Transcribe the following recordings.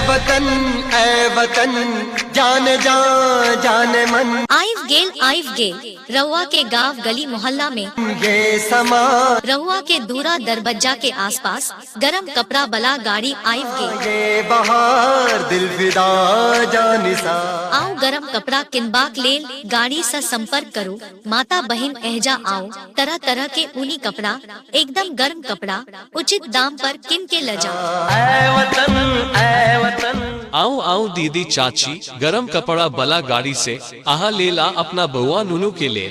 वतन ऐ वतन जान जा जान मन आइव गेल आइव गेल रहुआ के गांव गली मोहल्ला में ये समा रहुआ के दूरा दरबज्जा के आसपास गरम कपड़ा बला गाड़ी आइव गेल ये बहार दिल फिदा जान सा आओ गरम कपड़ा किनबाक लेल गाड़ी से संपर्क करो माता बहन एहजा आओ तरह तरह के ऊनी कपड़ा एकदम गर्म कपड़ा उचित दाम पर किन के ल जाओ ऐ वतन ऐ वतन आओ आओ दीदी चाची गरम कपड़ा बला गाड़ी से आहा ले ला अपना बउआ नुनू के ले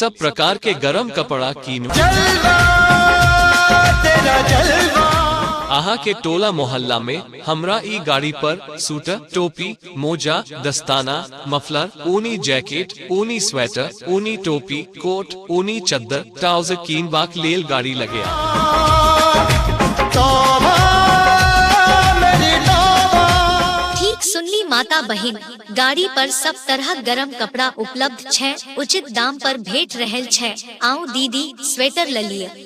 सब प्रकार के गरम कपड़ा कीन जलवा तेरा जलवा आहा के टोला मोहल्ला में हमरा ई गाड़ी पर सूटर टोपी मोजा दस्ताना मफलर ऊनी जैकेट ऊनी स्वेटर ऊनी टोपी कोट ऊनी चद्दर ट्राउजर कीन बाक लेल गाड़ी लगे ठीक सुनली माता बहिन गाड़ी पर सब तरह गरम कपड़ा उपलब्ध छै उचित दाम पर भेट रहल छै आउ दीदी स्वेटर ललिए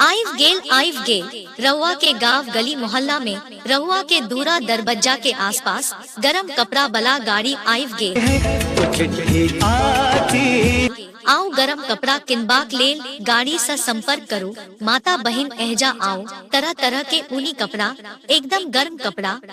आइव गेल आइव गेल रहुआ के गांव गली मोहल्ला में रहुआ के दूरा दरबज्जा के आसपास गरम कपड़ा बला गाड़ी आइव गेल आउ गरम कपड़ा किनबाक लेल गाड़ी से संपर्क करू माता बहिन एहजा आउ तरह तरह के ऊनी कपड़ा एकदम गर्म कपड़ा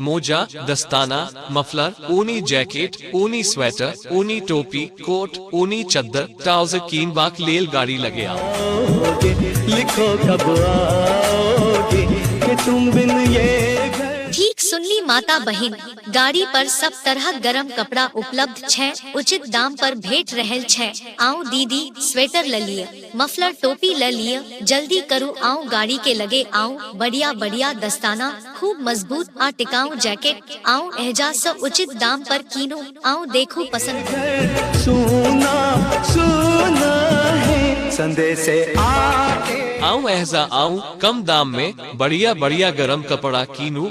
मोजा दस्ताना मफलर ऊनी जैकेट ऊनी स्वेटर ऊनी टोपी कोट ऊनी चद्दर ट्राउजर कीन बाक लेल गाड़ी लगे आओगे लिखो कब आओगे कि तुम बिन ये घर ठीक सुनली माता बहिन गाड़ी पर सब तरह गरम कपड़ा उपलब्ध छै उचित दाम पर भेट रहल छै आउ दीदी स्वेटर ललिए मफलर टोपी ले लिए जल्दी करू आओ गाड़ी के लगे आओ बढ़िया बढ़िया दस्ताना खूब मजबूत आ टिकाऊ जैकेट आओ एहजा से उचित दाम पर कीनो आओ देखो पसंद सुना सुना है संदेश आके आओ एहजा आओ कम दाम में बढ़िया बढ़िया गरम कपड़ा कीनू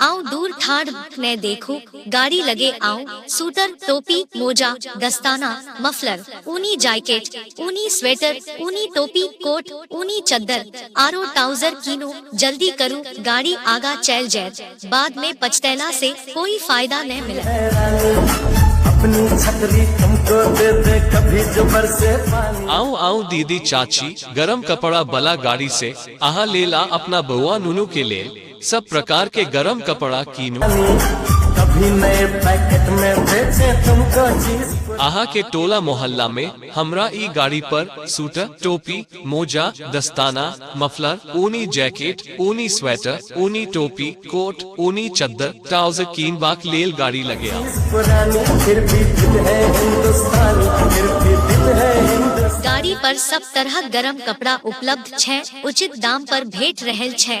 आउ दूर ठाढ़ नै देखू, गाड़ी लगे आउ सूटर, टोपी, मोजा, दस्ताना, मफलर, ऊनी जायकेट, ऊनी स्वेटर, ऊनी टोपी, कोट, ऊनी चद्दर, आरो टाउजर कीनू। जल्दी करू, गाड़ी आगा चैल जैत। बाद में पछतैला से कोई फायदा नै मिलत। है रानी अपनी छतरी तुमको दे दे कभी जो बरसे पानी आऊं आऊं दीदी चाची गरम कपड़ा बला गाड़ी से आहा लेल आ अपना बउआ नुनू के लेल सब प्रकार के गरम कपड़ा कीनू कभी नए पैकेट में बेचे तुमको चीज अहा के टोला मोहल्ला में हमरा ई गाड़ी पर सूटर टोपी मोजा दस्ताना मफलर ऊनी जैकेट ऊनी स्वेटर ऊनी टोपी कोट ऊनी चद्दर ट्राउजर कीन बाक लेल गाड़ी लगे आ। पुरानी फिर भी दिल है हिंदुस्तानी फिर भी दिल है हिंदुस्तानी गाड़ी पर सब तरह गरम कपड़ा उपलब्ध छै उचित दाम पर भेट रहल छै